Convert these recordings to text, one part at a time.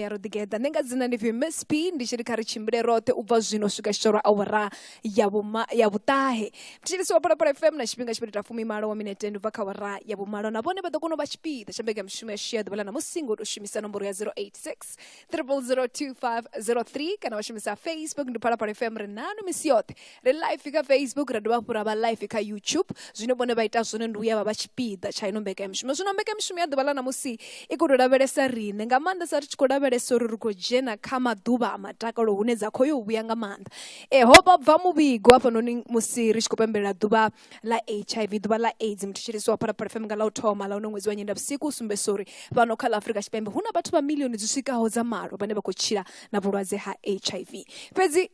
ya ro ḓigeḓa nṋe nga dzina ndi pfi miss p ndi tshi ri kha ri tshimbile roṱhe u bva zwino swika tshitho lwa awara ya vhuma ya vhuṱahe mthetshelisi wa phalaphala fm na tshifhinga tshipiri ta fumimalo wa minete ndi bva kha awara ya vhumalo na vhone vha ḓo kona u vha tshipiḓa tsha mbega mishumo ya shia ḓuvha ḽa ṋamusi ngo tou shumisa nomboro ya 086 0002503 kana wa shumisa facebook ndi phalaphala fm ri nanu misi yoṱhe ri live kha facebook ra dovha hafhu ra vha live kha youtube zwine vhone vha ita zwone ndi uya vha vha tshipiḓa tsha ino mbekanyamushumo zwino mbekanyamushumo ya ḓuvha ḽa ṋamusi i khou tou lavhelesa riṋe nga maanḓesa ri tshi khou lavhelesa uri ri khou dzhena kha maḓuvha a matakalo hune dza khou yo vhuya nga maanḓa e ho vha bva muvhigo hafhanoni musi ri tshi khou pembelela ḓuvha ḽa hiv ḓuvha ḽa aids muthu tshilisi wa phalaphala fm nga ḽa u thoma ḽa uno ṅwedzi wa nyenda vhusiku u sumbesa uri fhano kha ḽa afurika tshipembe hu na vhathu vha milioni dzi swikaho dza malo vhane vha khou tshila na vhulwadze ha hiv fhedzi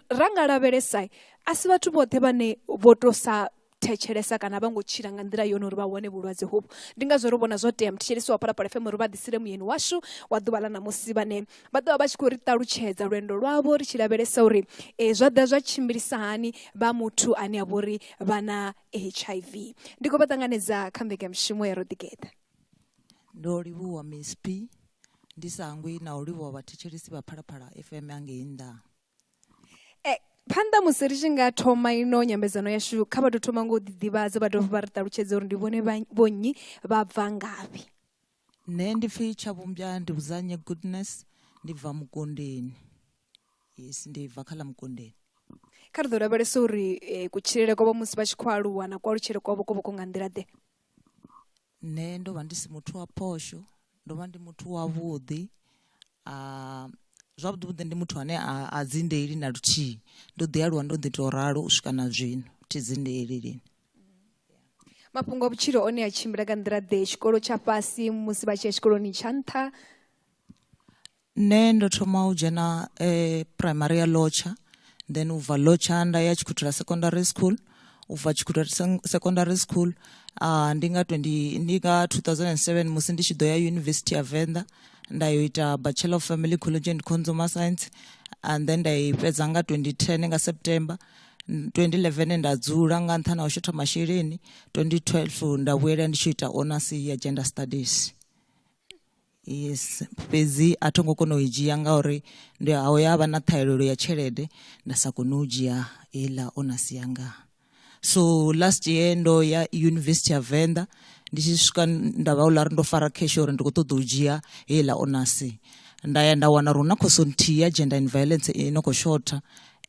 ra nga lavhelesa a si vhathu vhoṱhe vhane vho to sa thetshelesa kana vha ngo tshila nga nḓila yone uri vha wane vhulwadze hovhu ndi ngazwo ri vhona zwo tea muthetshelesi wa phalaphala fm uri vha ḓisile muyeni washu wa ḓuvha ḽa ṋamusi vhane vha ḓovha vha tshi khou ri ṱalutshedza lwendo lwavho ri tshi lavhelesa uri um zwa ḓa zwa tshimbilisa hani vha muthu ane a vha uri vha na h i v ndi khou vha ṱanganedza kha mbekanyamushumo ya ro ḓigeḓa Ndo livhuwa Mzp ndi sa hangwi na u livhuwa vhathetshelesi vha Phalaphala FM a ngei nnḓa. E, phanḓa musi ri tshi nga thoma ino nyambedzano yashu kha vha tou thoma ngo u ḓiḓivhadza vha dovha vha ri ṱalutshedza uri ndi vhone vha vho nnyi vha bva ngafhi. Nṋe ndi pfi Tshavhumbya ndi Vhudzanye Goodness ndi bva Mukondeni. Yes ndi bva kha ḽa Mukondeni. Kha ri ḓo lavhelesa uri eh, kutshilele kwavho musi vha tshi khou aluwa na kualutshele kwavho ko vha ku nga nḓila ḓe. Nṋe ndo vha ndi si muthu wa phosho ndo vha ndi muthu wa vhuḓi zwavhuḓi vhuḓi ndi muthu ane a a dzi ndeili na luthihi ndo ḓi aluwa ndo ḓi to ralo u swika na zwino thi dzi ndeili lini. Mafhungo a vhutshilo one a tshimbila nga nḓila ḓe tshikolo tsha fhasi musi vha tshi ya tshikoloni tsha nṱha. Nṋe ndo thoma u dzhena phuraimari ya Lotsha then u bva Lotsha nda ya Tshikhuthula Secondary School u bva Tshikhuthula Secondary School uh, ndi nga 20 ndi nga 2007 musi ndi tshi ḓo ya University ya Venḓa nda yo ita Bachelor of Family Ecology and Consumer Science and then nda i fhedza nga 2010 nga September 2011 nda dzula nga nṱhani ha u shotha masheleni 2012 nda vhuyela ndi tshi ita honors ya gender studies yes fhedzi a tho ngo kona u i dzhia ngauri ndi ho ya vha na ṱhahelelo ya tshelede nda sa kone u dzhia heiḽa onasi yanga so last year ndo ya yunivesithi ya venḓa ndi tshi swika nda vha uḽa ri ndo fara cash uri ndi khou ṱoḓa u dzhia heiḽa onasi nda ya nda wana uri hu na khoso nthihi ya gender and violence i no khou shotha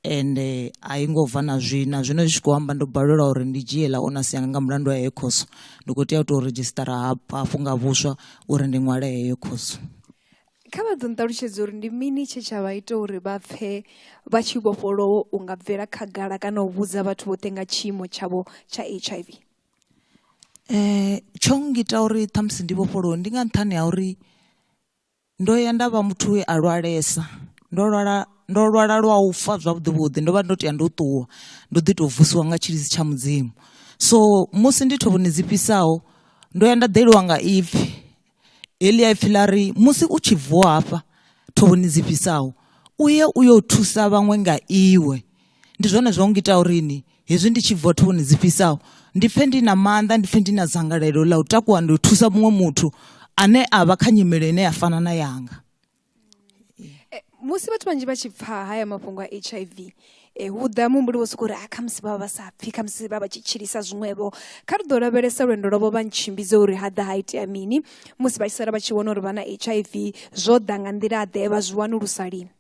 ende a yi ngo bva na zwina zwino zwi tshi khou amba ndo balelwa uri ndi dzhie ḽa onasi yanga nga mulandu wa heyo khoso ndi khou tea u tou redzhisitara hafhu nga vhuswa uri ndi ṅwale heyo khoso kha vha ḓo nṱalutshedza uri ndi mini tshe tsha vha ita uri vha pfhe vha tshi vhofholowo u nga bvela khagala kana u vhudza vhathu vhoṱhe nga tshiimo tshavho tsha h i v um tsho ngita uri ṱhamusi ndi vhofholowe ndi nga nṱhani ha uri Ndo ya nda vha muthu we a lwalesa ndo lwala ndo lwala lwa u fa zwavhuḓi vhuḓi ndo vha ndo tea ndo ṱuwa ndo ḓi tou vusiwa nga tshilidzi tsha mudzimu so musi ndi thovhoni dzi fhisaho ndo ya nda ḓeliwa nga ipfhi heḽia ipfhi ḽa ri musi u tshi vuwa hafha thovhoni dzi fhisaho u ye u yo thusa vhaṅwe nga iwe ndi zwone zwa ngita uri ni hezwi ndi tshi bva thoni dzi fhisaho ndi pfhe ndi na maanḓa ndi pfhe ndi na dzangalelo ḽa u takuwa ndi u thusa muṅwe muthu ane a vha kha nyimele ine ya fana na yanga eh, musi vhathu vhanzhi vha tshi pfha haya mafhungo a h i v e, hu ḓa muhumbuli wo sokou uri a ah, khamusi vha vha vha sa pfhi khamusi vha vha tshi tshilisa zwiṅwevho kha ri ḓo lavhelesa lwendo lwavho vha ntshimbidze uri ha ḓa ha itea mini musi vha tshi sala vha tshi vhona uri vha na h i v zwo ḓa nga nḓila ḓe vha zwi wanulusa lini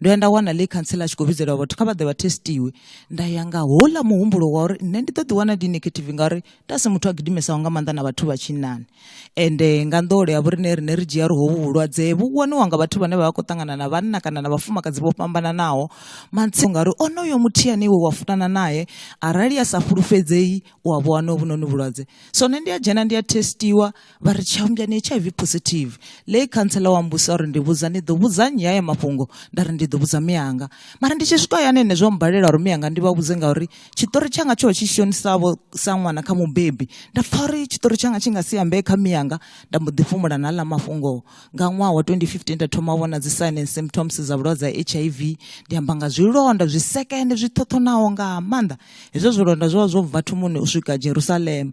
ndo ya nda wana ḽe khantsela a tshi khou vhidzelwa vhathu kha vha ḓe vha testiwe nda ya nga houḽa muhumbulo wa uri nṋe ndi ḓo ḓi wana ndi negative ngauri nda si muthu a gidimesaho nga maanḓa na vhathu vha tshinnani ende nga nḓowelo ya vhoriṋe riṋe ri dzhia ri hovhu vhulwadze vhu waniwa nga vhathu vhane vha vha khou ṱangana na vhanna kana na vhafumakadzi vho fhambananaho mantsio ngauri onoyo muthihi ane iwe wa funana nae arali a sa fhulufhedzei u a vho wana hovhunoni vhulwadze so nṋe ndi a dzhena ndi a testiwa vha ri tshiambya ni hiv positive lei khantsela wa mbusa uri ndi vhudza ni ḓo vhudza nnyi haya mafhungo nda ri ndi ḓo vhudza miyanga mara ndi tshi swika hayani ene zwo mbalela uri miyanga ndi vha vhudze ngauri tshiṱori tshanga tsho tshi shonisavho sa ṅwana kha mubebi nda pfa uri tshiṱori tshanga tshi nga si ambee kha miyanga nda mbo ḓi fhumula na ḽa mafhungo nga ṅwaha wa 2015 nda thoma vhona dzi sign and symptoms dza vhulwadze ha hiv ndi amba nga zwilonda zwi sekende zwi ṱhoṱhonaho nga maanḓa hezwo zwilonda zwo vha zwo bva thumuni u swika jerusalema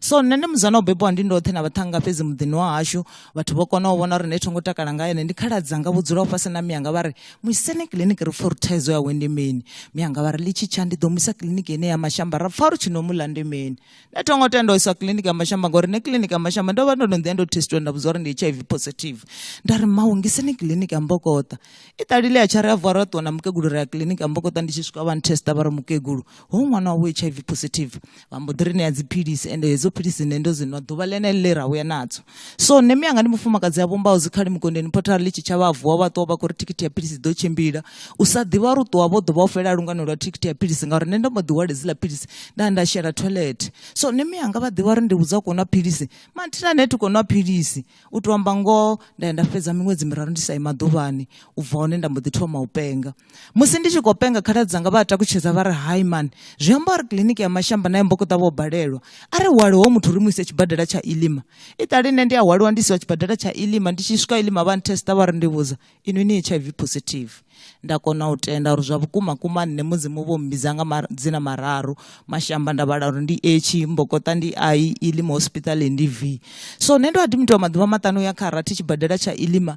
so nṋe ndi muzana o bebiwa ndi ndoṱhe na vhaṱhanga fhedzi muḓini wa hashu vhathu vho kona u vhona uri nṋe thongo takala nga ene ndi khaladzanga vho dzulaho fhasi na miyanga vha ri muisene kiḽiniki ri pfa uri thaidzo yawe ndi mini miyanga vha ri litshi tsha ndi ḓo muisa kiḽiniki ine ya mashamba ra pfa uri tshi no muḽa ndi mini nṋe thongo tenda u iswa kiḽiniki ya mashamba ngori nṋe kiḽiniki ya mashamba ndo vha ndo no ḓiya ndo testiwa nda vhudzwa uri ndi hiv positive nda ri mawu ngiseni kiḽiniki ya mbokoṱa i ṱalile ya tsha ri a vuwa ro ṱuwa na mukegulu ri ya kiḽiniki ya mbokoṱa ndi tshi swika vha nthesta vha ri mukegulu ho ṅwana wavho hiv positive vha mbo ḓi ri ṋea dziphilisi ende hedzo philisi nṋe ndo dzi nwa ḓuvha ḽenele ḽe ra vhuya nadzo so nṋe miyanga ndi mufumakadzi a vhumbaho dzikhali mugondeni photara ḽi tshi tshavha vuwa vha ṱuwa vha khou ri thikhithi ya philisi ḓo tshimbila u sa ḓivha uri u ṱuwa vho ḓo vha u fhela lungano lwa thikhithi ya philisi ngauri nṋe ndo mbo ḓi hwale dziḽa philisi nda nda shela toilet so nṋe miyanga vha ḓivha uri ndi vhudza u khou nwa philisi mathina nṋe thi khou nwa philisi u tou amba ngoho nda ya nda fhedza miṅwedzi miraru ndi sa i maḓuvhani u bva hone nda mbo ḓi thoma u penga musi ndi tshi khou penga khaladzi dzanga vha a takutshedza vha ri hai man zwi amba uri kiḽiniki ya mashamba na yombokoṱa vho balelwa a ri hwale ho muthu ri mu ise tshibadela tsha ilima i ṱali nṋe ndi a hwaliwa ndi isiwa tshibadela tsha ilima ndi tshi swika ilima vha nthesta vha ri ndi vhudza inwi ni h i v positive nda kona u tenda uri zwa vhukuma kuma nṋe mudzimu vho mmbidza nga dzina mararu mashamba nda vhala uri ndi h mbokoṱa ndi i ilima hospital ndi v so nṋe ndo a dimitiwa maḓuvha maṱanu ya kha rathi tshibadela tsha ilima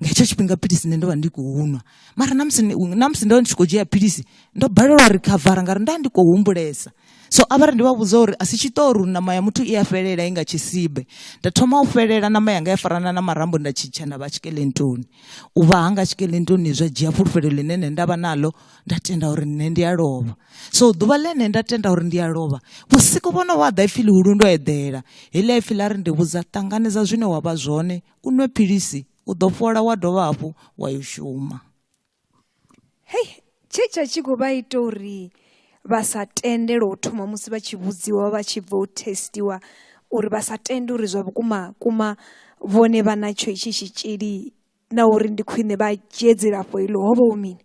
nga hetsho tshifhinga philisi nṋe ndo vha ndi khou nwa mara na musi na musi ndo ndi tshi khou dzhia philisi ndo balelwa uri khavara ngauri nda ndi khou humbulesa so a vhari ndi vha vhudza uri a si tshiṱori uri ṋama ya muthu i a fhelela i nga tshisibe nda thoma u fhelela ṋama yanga ya farana na marambo nda tshitsha nda vha tshikelentoni u vha hanga tshikelentoni zwa dzhia fhulufhelo ḽine nṋe nda vha naḽo nda tenda uri nṋe ndi a lovha so ḓuvha ḽine nda tenda uri ndi a lovha vhusiku vhono vha ḓa ipfhi ḽihulu ndo eḓela heḽia ipfhi ḽa ri ndi vhudza ṱanganedza zwine wa vha zwone u nwe philisi u ḓo fhola wa dovha hafhu wa yo shuma hei tshe tsha tshi khou vha ita uri vha sa tende lwo thoma musi vha tshi vhudziwa vha tshi bva u testiwa uri vha sa tende uri zwa vhukuma kuma vhone vha na tsho itshi tshitzhili na uri ndi khwine vha dzhie dzilafho iḽo ho vha hu mini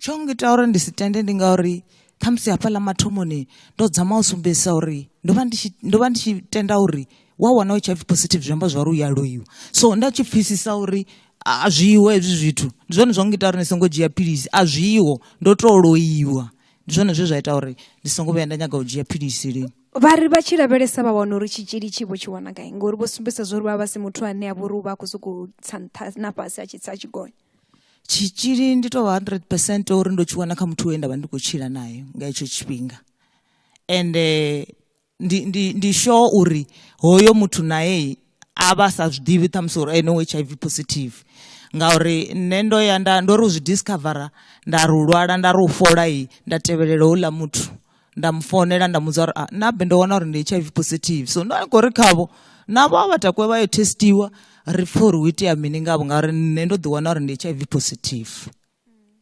Tsho ngita uri ndi si tende ndi ngauri khamusi hafhaḽa mathomoni ndo dzama u sumbedzisa uri ndo vha ndi tshi ndo vha ndi tshi tenda uri wa wana u tshi pfi positive zwi amba zwari u ya loiwa so nda tshi pfhisisa uri a zwiho hezwi zwithu ndi zwone zwa ngita uri ndi songo dzhia philisi a zwiho ndo to loiwa ndi zwone zwe zwa ita uri ndi songo vhuya nda nyaga u dzhia philisi lini vha ri vha tshi lavhelesa vha wana uri tshitzhili tshi vho tshi wana gai ngori vho sumbedzisa zwa uri vha vha si muthu ane a vha uri u vha a khou sokou tsa nṱha na fhasi a tshi tsa a tshi gonya tshitzhili ndi tovha 100 percent uri ndo tshi wana kha muthu we nda vha ndi khou tshila naye nga hetsho tshifhinga ende eh, ndi, ndi, ndi sure uri hoyo muthu naye a vha sa zwi ḓivhi ṱhamusi uri ene u h i v positive ngauri nṋe ndo ya nda ndo ri u zwi discovera nda ri u lwala nda ri u fola i nda tevhelela houḽa muthu nda mu founela nda mu dza uri ah, na be ndo wana uri ndi hiv positive so ndo kho ri khavho navho a vha takuwe vha yo testiwa ri pfhe uri hu itea mini ngavho ngauri nṋe ndo ḓi wana uri ndi hiv positive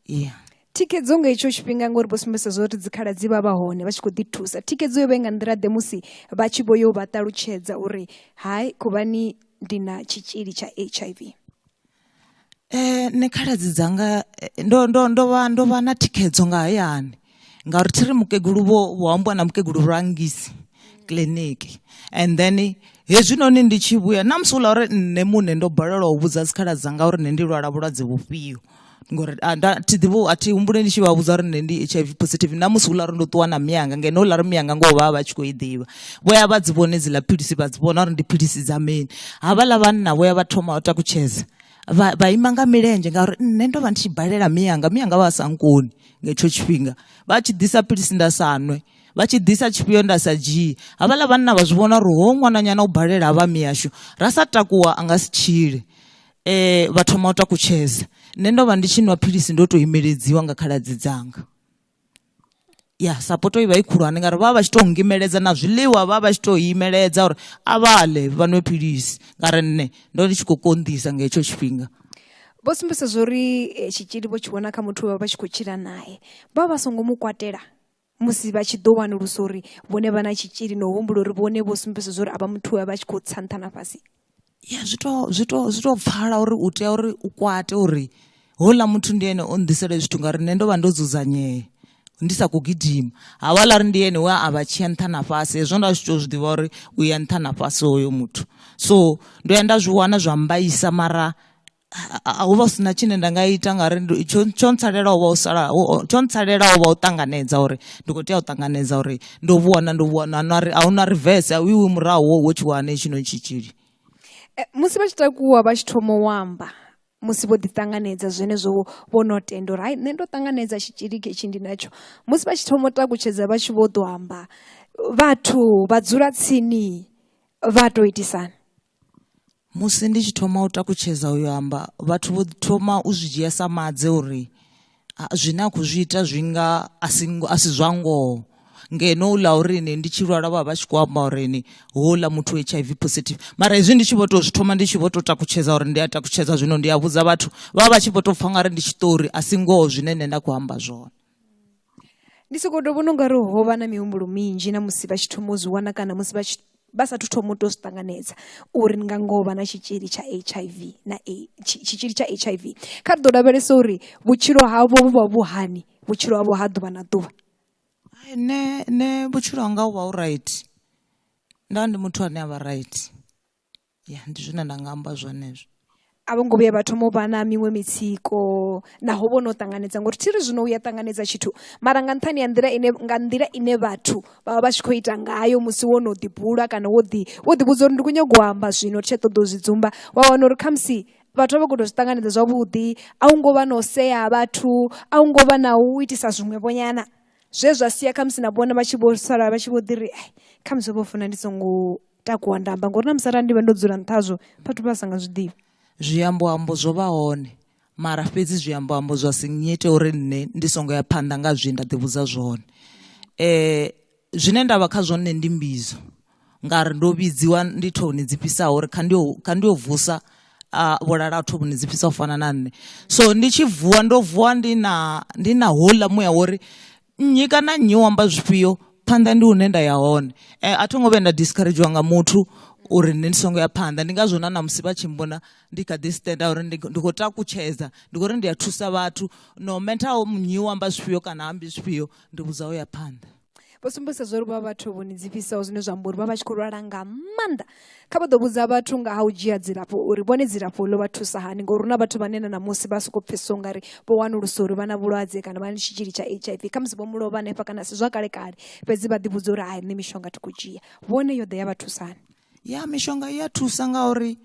yeah thikedzo nga itsho tshifhinga ngori vho sumbedzisa zwo ri dzikhala dzi vha vha hone vha tshi khou ḓi thusa thikedzo yo vha nga nḓila ḓe musi vha tshi vho yo vha ṱalutshedza uri hai khuvhani ndi na tshitzhili tsha h i v Nṋe khaladzi dzanga ndo ndo ndo vha ndo vha na thikhedzo nga hayani ngauri thi ri mukegulu vho vho ambiwa na mukegulu Lwangisi kiḽiniki and then hezwinoni ndi tshi vhuya na musi houḽa uri nṋe muṋe ndo balelwa u vhudza dzikhaladzi dzanga uri nṋe ndi lwala vhulwadze vhufhio ngori a nda thi ḓivhi a thi humbule ndi tshi vha vhudza uri nṋe ndi H_I_V positive na musi houḽa uri ndo ṱuwa na mianga ngeno houḽa uri mianga ngoho vha vha vha tshi kho i ḓivha. vho ya vha dzi vhone dziḽa philisi vha dzi vhona uri ndi philisi dza mini havhaḽa vhanna vho ya vha thoma u takutshedza vha vha ima nga milenzhe ngauri nṋe ndo vha ndi tshi balela miyanga miyanga vha sa nkoni nga hetsho tshifhinga vha tshi ḓisa philisi nda sa nwe vha tshi ḓisa tshifhio nda sa dzhii havhaḽa vhanna vha zwi vhona uri ho ṅwananyana u balela ha vha miyashu ra sa takuwa a nga si tshile um vha thoma u takutshedza nṋe ndo vha ndi tshi nwa philisi ndo tou imeledziwa nga khaladzi dzanga ya sapoto i vha i khulwane ngauri vha vha vha tshi tou ngimeledza na zwiḽiwa vha vha tshi tou imeledza uri a vha ḽe vha nwe philisi ngauri nṋe ndo ndi tshi khou konḓisa nga hetsho tshifhinga vho sumbedza zwori eh, tshitzhili vho tshi vhona kha muthu vha vha tshi khou tshila nae vha vha songo mu kwatela musi vha tshi ḓo wanulusa uri vhone vha na tshitzhili na u humbula uri vhone vho sumbedza zwori a vha muthu vha tshi khou tsa nṱha na fhasi ya zwi to zwi to zwi to pfala uri u tea uri u kwate uri hola muthu ndi ene o nḓisela zwithu ngauri nṋe ndo vha ndo dzudzanyea ndi sa khou gidima havhala ri ndi ene we a vha tshiya nṱha na fhasi hezwo nda zwi tou zwi ḓivha uri u ya nṱha na fhasi hoyo muthu so ndo ya nda zwi wana zwa mbaisa mara a hu vha si na tshine nda nga ita ngauri tsho tsho ntsalela u vha u sala tsho ntsalela u vha u ṱanganedza uri ndi khou tea u ṱanganedza uri ndo vhuwana ndo vhuwana na ri a hu na reverse a u iwi murahu wo tshi wane tshino tshitzhili eh, musi vha tshi takuwa vha tshi thoma u amba musi vho ḓiṱanganedza zwenezwo vho no tenda uri hai nṋe ndo ṱanganedza tshitzhili ketshi ndi natsho musi vha tshi thoma u takutshedza vha tshi vho ḓo amba vhathu vha dzula tsini vha tou itisana musi ndi tshi thoma u takutshedza uyo amba vhathu vho thoma u zwi dzhia sa madze uri zwine a khou zwi ita zwi nga a si a si zwa ngoho ngeno u ḽa uri ni ndi tshi lwala vha vha tshi khou amba uri ni houḽa muthu h i v positive mara hezwi ndi tshi vho to zwi thoma ndi tshi vho to takutshedza uri ndi a takutshedza zwino ndi a vhudza vhathu vha vha tshi vho to pfha nga ri ndi tshiṱori a si ngoho zwine nṋe nda khou amba zwone ndi soko ndo vhona ungari ho vha na mihumbulo minzhi na musi vha tshi thoma u zwi wana kana musi vha tshi vha sathu thoma u to zwi ṱanganedza uri ni nga ngoho vha na tshitzhili tsha hiv na tshitzhili tsha hiv kha ri ḓo lavhelesa uri vhutshilo havho vhu vha vhuhani vhutshilo havho ha ḓuvha na ḓuvha ne ne vhutshilo hanga u vha u right nda ndi muthu ane a vha right ya ndi zwine nda nga amba zwone hezwo a vho ngo vhuya vha thoma u vha na miṅwe mitsiko naho vho no ṱanganedza ngori thi ri zwino u ya ṱanganedza tshithu mara nga nṱhani ya nḓila ine nga nḓila ine vhathu vha vha vha tshi khou ita ngayo musi wo no ḓibula kana wo ḓi wo ḓivhudza uri ndi khou nyanga u amba zwino thi tsha ṱoḓa u zwi dzumba wa wana uri khamusi vhathu vha khou zwi ṱanganedza zwavhuḓi a u ngo vha na u sea vhathu a u ngo vha na u itisa zwiṅwevho nyana zwe zwa sia khamusi na vhone vha tshi vho sala vha tshi vho ḓi ri khamusi vho funa ndi songo takuwa nda amba ngori na musala ndi vha ndo dzula nṱha hazwo phathu vha sa nga zwi ḓivhi zwiamboambo zwo vha hone mara fhedzi zwiamboambo zwa si nyite uri nṋe ndi songo ya phanḓa nga zwi nda ḓivhudza zwone um zwine nda vha kha zwone ndi mbidzo ngauri ndo vhidziwa ndi thoni dzi fhisaho uri kha ndi yo vusa a vhulala vhathu vhune dzi fhisa u fana na nṋe so ndi tshi vuwa ndo vuwa ndi na ndi na houḽa muya wori nnyi kana nnyi u amba zwifhio phanḓa ndi hune nda ya hone eh, a tho ngo vhuya nda discouragewa nga muthu uri nṋe ndi songo ya phanḓa ndi ngazwo na namusi vha tshi mbona ndi kha ḓi stenda uri ndi khou takutshedza ndi khou ri ndi a thusa vhathu no matter nnyi u amba zwifhio kana ambi zwifhio ndi vhudza u ya phanḓa vho sumbedzisa zwo ri vha vhathu vhoni dzifhisaho zwine zwa amba uri vha vha tshi khou lwala nga maanḓa kha vha ḓo vhudza vhathu nga ha u dzhia dzilafho uri vhone dzilafho ḽo vha thusa hani ngori huna vhathu vhane na ṋamusi vha sokou pfhesesa ungari vho wanulusa uri vha na vhulwadze kana vha na tshitzhili tsha h i v khamusi vho mulovha hanefha kana si zwa kale kale fhedzi vha ḓivhudza uri hai nṋe mishonga thi khou dzhia vhone yo ḓe ya vha thusa hani ya mishonga i ya thusa ngauri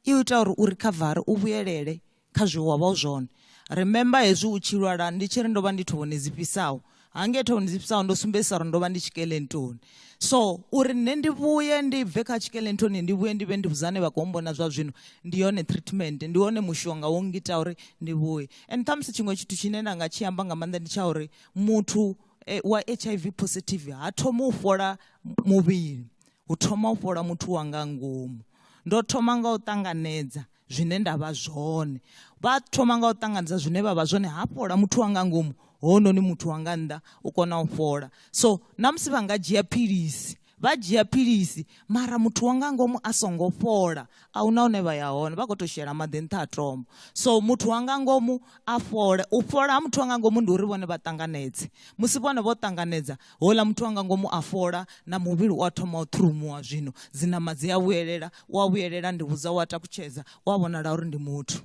i ita uri u rikhavare u vhuyelele kha zwe wa vha u zwone remember hezwi u tshi lwala ndi tshi ri ndo vha ndi thovhoni dzi fhisaho hangei thovhoni dzi fhisaho ndo sumbedzisa uri ndo vha ndi tshikelentoni so uri nṋe ndi vhuye ndi bve kha tshikelentoni ndi vhuye ndi vhe ndi vhudzane vha khou mbona zwa zwino ndi yone treatment ndi wone mushonga wo ngita uri ndi vhuye and ṱhamusi tshiṅwe tshithu tshine nda nga tshi amba nga maanḓa ndi tsha uri muthu eh, wa h i v positive ha thoma u fhola muvhili hu thoma u fhola muthu wanga ngomu ndo thoma nga u ṱanganedza zwine nda vha zwone vha thoma nga u ṱanganedza zwine vha vha zwone ha fhola muthu wanga ngomu hononi muthu wanga nnḓa u kona u fhola so na musi vha nga dzhia philisi vha dzhia philisi mara muthu wanga ngomu a songo fhola a huna hune vha ya hone vha khou tou shela maḓi nṱha a tombo so muthu wanga ngomu a fhole u fhola ha muthu wanga ngomu ndi uri vhone vha ṱanganedze musi vhone vho ṱanganedza houḽa muthu wanga ngomu a fhola na muvhili u a thoma u ṱhurumuwa zwino dzinama dzi a vhuyelela u a vhuyelela ndi vhudza u a takutshedza u a vhonala uri ndi muthu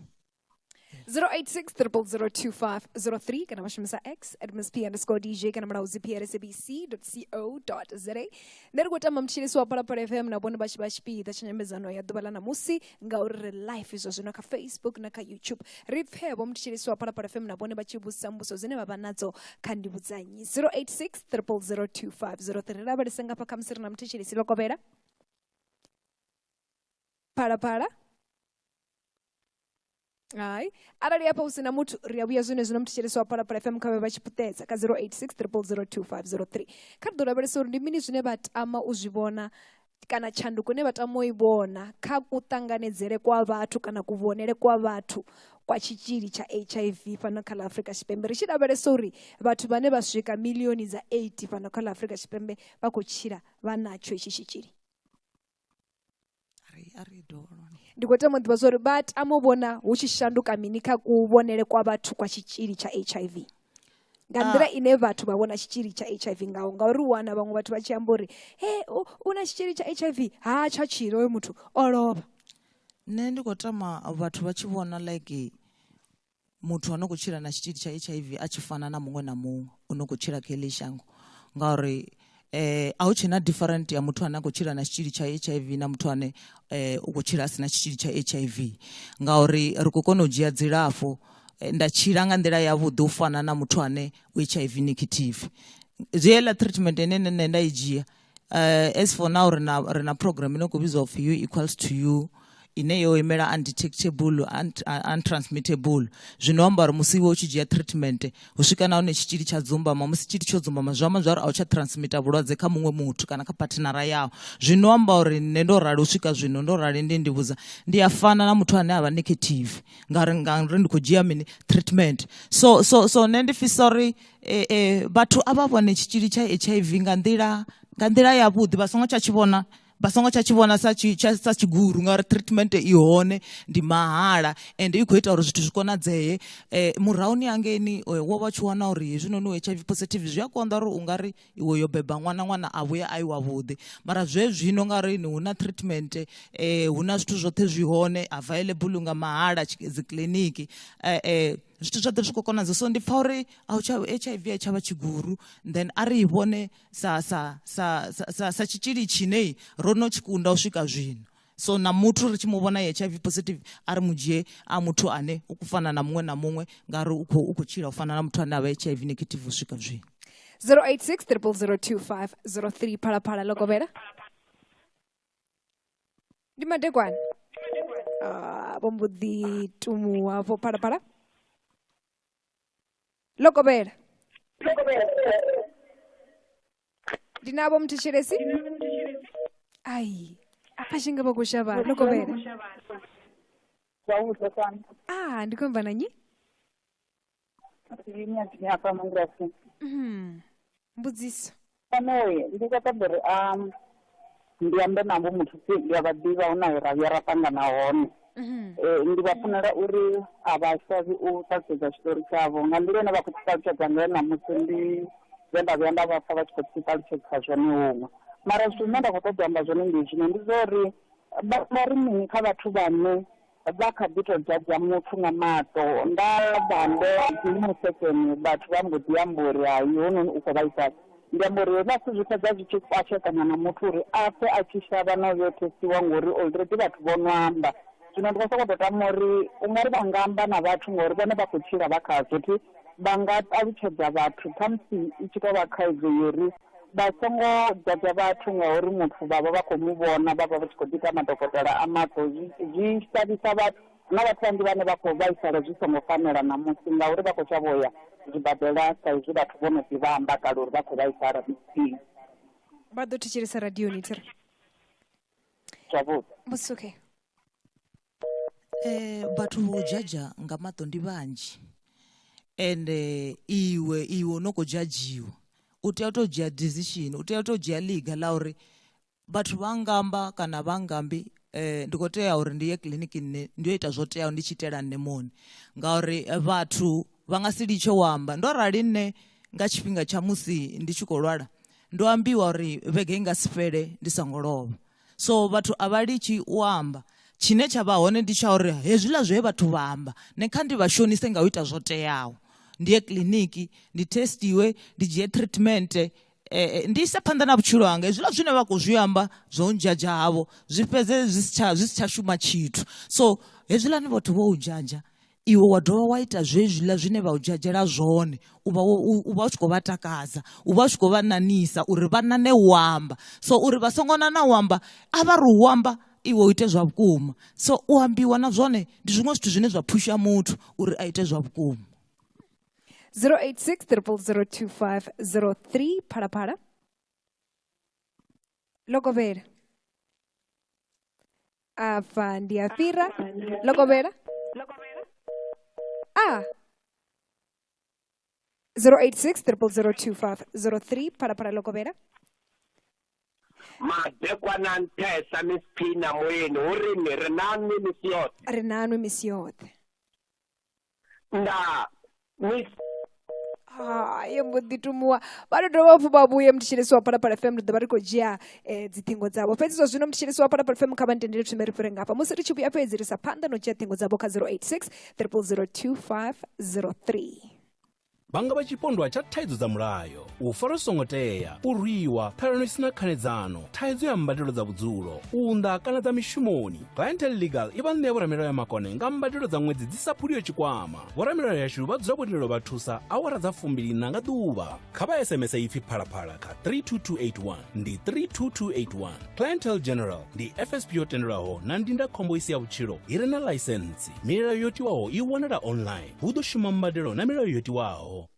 086 0002503 kana vha shumisa x at msp underscore dj kana mulaudzi prsabc co za nṋe ri khou tamba mutshilisi wa phalaphala fm na vhone vha tshi vha tshipiḓa tsha nyambedzano ya ḓuvha ḽa ṋamusi ngauri ri life izwo zwino kha facebook na kha youtube ri pfhe vho mutshilisi wa phalaphala fm na vhone vha tshi vhudzisa mbuso dzine vha vha nadzo kha ndi vhudzanyi 086 3002503 ri lavhelese ngafha khamusi ri na muthetshelisi lokovhela phalaphala hai arali hafha hu si na muthu ri a vhuya zwine zwino muthetshelesi wa phalaphala fm kha vhe vha tshi puṱedza kha 086 002503 kha ri ḓo lavhelesa uri ndi mini zwine vha tama u zwi vhona kana tshanduko ine vha tama u i vhona kha kuṱanganedzele kwa vhathu kana kuvhonele kwa vhathu kwa tshitzhili tsha hiv fhano kha ḽa afrika tshipembe ri tshi lavhelesa uri vhathu vhane vha swika milioni dza 8 fhano kha ḽa afrika tshipembe vha khou tshila vha natsho itshi tshitzhili ndi khou tama u ḓivha zwori vha tama u vhona hu tshi shanduka mini kha kuvhonele kwa vhathu kwa tshitzhili tsha h i v nga ah. nḓila ine vhathu vha vhona tshitzhili tsha h i v ngaho ngauri u wana vhaṅwe vhathu vha tshi amba uri he u na tshitzhili tsha h i v ha tsha tshilo oyo muthu o lovha nṋe ndi khou tama vhathu vha tshi vhona like muthu ano khou tshila na tshitzhili tsha H_I_V a tshi fana na muṅwe na muṅwe u no khou tshila kha heḽi shango ngauri eh a hu tshena different ya muthu ane a khou tshila na tshitzhili tsha H_I_V na muthu ane eh u khou tshila a si na tshitzhili tsha H_I_V ngauri ri khou kona u dzhia dzilafho eh, nda tshila nga nḓila yavhuḓi u fana na muthu ane u H_I_V negative zwi heiḽa treatment ine nṋe nṋe nda i dzhia Uh, as for now ri na ri na program ine khou vhidzwa upfhi u equals to you ine yo imela undetectable untransmittable zwino amba uri musi iwe u tshi dzhia treatment hu swika nahone tshitzhili tsha dzumbama musi tshitzhili tsho dzumbama zwi amba zwari a u tsha transmitter vhulwadze kha muṅwe muthu kana kha partnera yao zwino amba uri nṋe ndo rali u swika zwino ndo rali ndi ndi vhudza ndi a fana na muthu ane a vha negative ngauri ngauri ndi khou dzhia mini treatment so so so nṋe ndi fisa uri eh, eh, vhathu a vha vhone tshitzhili tsha hiv nga nḓila nga nḓila yavhuḓi vha songo tsha tshi vhona vha songo tsha tshi vhona sa sa tshigulu ngauri treatment i hone ndi mahala ende i khou ita uri zwithu zwi konadzee um eh, murahuni hangeni eh, wo vha tshi wana uri hezwinoni u h i v positive zwi a konḓa uri u nga ri iwe yo beba ṅwana ṅwana a vhuya a i wavhuḓi mara zwe zwino nga ri ni hu na treatment um eh, hu na zwithu zwoṱhe zwi hone available nga mahala dzikiḽiniki um zwithu zwa ḓo zwi khou konadza so ndi pfha uri a tsha h i v a tshavha tshiguru then a ri i vhone sa sa sa sa sa tshitzhili tshine ro no tshi kunda u swika zwino so na muthu ri tshi mu vhona h i v positive a ri mu dzhie a muthu ane u fana na muṅwe na muṅwe ngauri u khou u khou tshila u fana na muthu ane a vha h i v negative u swika zwino 086 0002503 phalaphala ḽo kovhela ndi madekwana Ah, vho mbo ḓi tumuwa vho phalaphala ḽo kovhela ndi na vho mthetshelesi ai a tshi nga vha khou shavha ḽo kovhela ah ndi khou amba na nyi Ine ndi hafha Mangwasi. Mm. Mbudziso. Panoe ndi khou ṱoḓa uri a ndi ambe navho muthu si ndi a vha ḓivha hu na he ra vhuya ra ṱangana hone. Mhm. Eh, ndi vha funela uri a vha shavhi u ṱalutshedza tshiṱori tshavho nga nḓila ine vha khou tshi ṱalutshedza ngayo ṋamusi ndi zwe nda vhuya nda vha pfha vha tshi khou tshi ṱalutshedza zwone huṅwe mara zwithu zwine nda khou ṱoḓa u amba zwone ndi zwino ndi zwa uri vha vha ri mini kha vhathu vhane Vha kha ḓi tou dzadza muthu nga maṱo. Nda vha ndo dzima sekene vhathu vha mbo ḓi amba uri, Hai, hounoni u khou vhaisala. Ndi amba uri hezwiḽa zwithu zwi fhedza zwi tshi kwashekanya na muthu uri a pfe a tshi shavha na u yo thesiwa ngori already vhathu vho no amba. Zwino ndi khou sokou tou tama uri u nga ri vha nga amba na vhathu ngori vhone vha khou tshila vha khazwo thi vha nga ṱalutshedza vhathu khamusi i tshi tou vha khaidzo yo ri, vha songo dzadza vhathu ngauri muthu vha vha vha khou mu vhona vha vha vha tshi khou ḓi ita madokotela a maṱo zwi zwi shavhisa vhathu na vhathu vhanzhi vhane vha khou vhaisala zwi songo fanela ṋamusi ngauri vha khou shavha u ya zwibadela sa izwi vhathu vho no ḓi vha amba kale uri vha khou vhaisala mitsini vha ḓo thetshelesa radioni thiri zwavhuḓi musi okay Eh, vhathu vho dzhadzha nga maṱo ndi vhanzhi ende iwe iwe no khou dzhadzhiwa u tea u tou dzhia decision u tea u tou dzhia ḽiga ḽa uri vhathu vha ngamba kana vha ngambi um ndi khou tea uri ndi ye kiḽiniki nṋe ndi yo ita zwo teaho ndi tshi itela nṋe muṋe ngauri vhathu vha nga si litshe u amba ndo rali nṋe nga tshifhinga tsha musi ndi tshi khou lwala ndo ambiwa uri vhege i nga si fhele ndi songo lovha so vhathu a vha litshi u amba tshine tsha vha hone ndi tsha uri hezwiḽa zwe vhathu vha amba ne kha ndi vha shonise nga u ita zwo teaho ndi ye kiḽiniki ndi testiwe ndi dzhie treatment eh, eh, ndi ise phanḓa na vhutshilo hanga hezwiḽa zwine vha khou zwi amba zwo ndzhadzha havho zwi fhedze zwi si tsha zwi si tsha shuma tshithu so hezwiḽani vhathu vho u ndzhadzha iwe wa dovha wa ita zwezwiḽa zwine vha u dzhadzhela zwone u vha u vha u tshi khou vha takadza u vha u tshi khou vha nanisa uri vha nane u amba so uri vha songo nana u amba a vha ri u amba iwe u ite zwa vhukuma so u ambiwa na zwone ndi zwiṅwe zwithu zwine zwa phusha muthu uri a ite zwa vhukuma 086 002503 phalaphala logovhela a fa ndi a fhira ḽo kovhela a 086 002503 phalaphala ḽo kovhela madekwana nṱhesa mispina moyeni hu ri ni ri na nwi misi yoṱhe ri na nwi misi yoṱhe ndaa miss haye mbo ḓi tumuwa vha tou dovha hafhu vha vhuye mthetshelesi wa phalaphala fm ri ḓo vha ri khou dzhia um dziṱhingo dzavho fhedzi zwa zwino mthetshelesi wa phalaphala fm kha vha ntendele thume ri fhire ngafha musi ri tshi vhuya fhedzi ri sa phanḓa na u dzhia ṱhingo dzavho kha 086 triple 02503 vha nga vha tshipondwa tsha thaidzo dza mulayo u fara songo tea u rwiwa ṱhalano i sina khanedzano thaidzo ya mbadelo dza vhudzulo u unḓa kana dza mishumoni clientel legal i vha ṋea vhoramilayo ya makone nga mbadelo dza ṅwedzi dzi sa phuliyo tshikwama vhoramilayo yashu vha dzula vhotendelo vha thusa awara dza fumbilina nga ḓuvha kha vha sms ipfi phalaphala kha 32281 ndi 32281 clientel general ndi fsp yo tendelwaho na ndindakhombo i si ya vhutshilo i re na ḽaisensi milayo yo tiwaho i wanala online hu ḓo shuma mbadelo na milayo yo tiwaho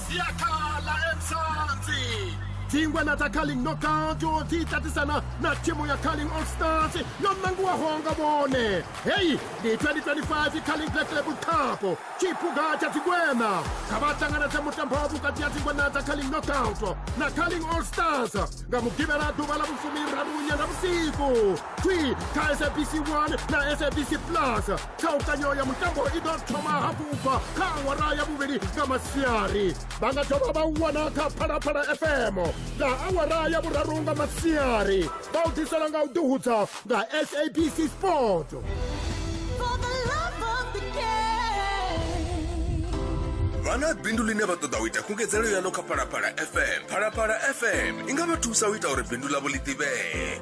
siakhala emsansi dzingwe na dza carling knockout o ḓi tatisana na thimu ya carling all stars yo nangiwaho nga vhone heyi ndi 2025 carling black label cup tshiphuga tsha dzingwena kha vha ṱanganedze mutambo vhukati ya dzingwena dza carling knockout na carling all stars nga mugivhela ḓuvha ḽa vhufumi raru nyanga vhusiku 3 kha sabc 1 na sabc plus ṱhalukanyo ya mutambo i ḓo thoma hafhu u bva kha awara ya vhuvhili nga masiari vha nga dovha vha wana kha phalaphala fm nga awara ya vhuraru nga masiari vha u ḓisela nga u ḓihudza nga sabc sport vha na bindu ḽine vha ṱoḓa u ita khungedzelo yaḽo kha phalaphala fm phalaphala fm i nga vha thusa u ita uri bindu ḽavho ḽi ḓivhee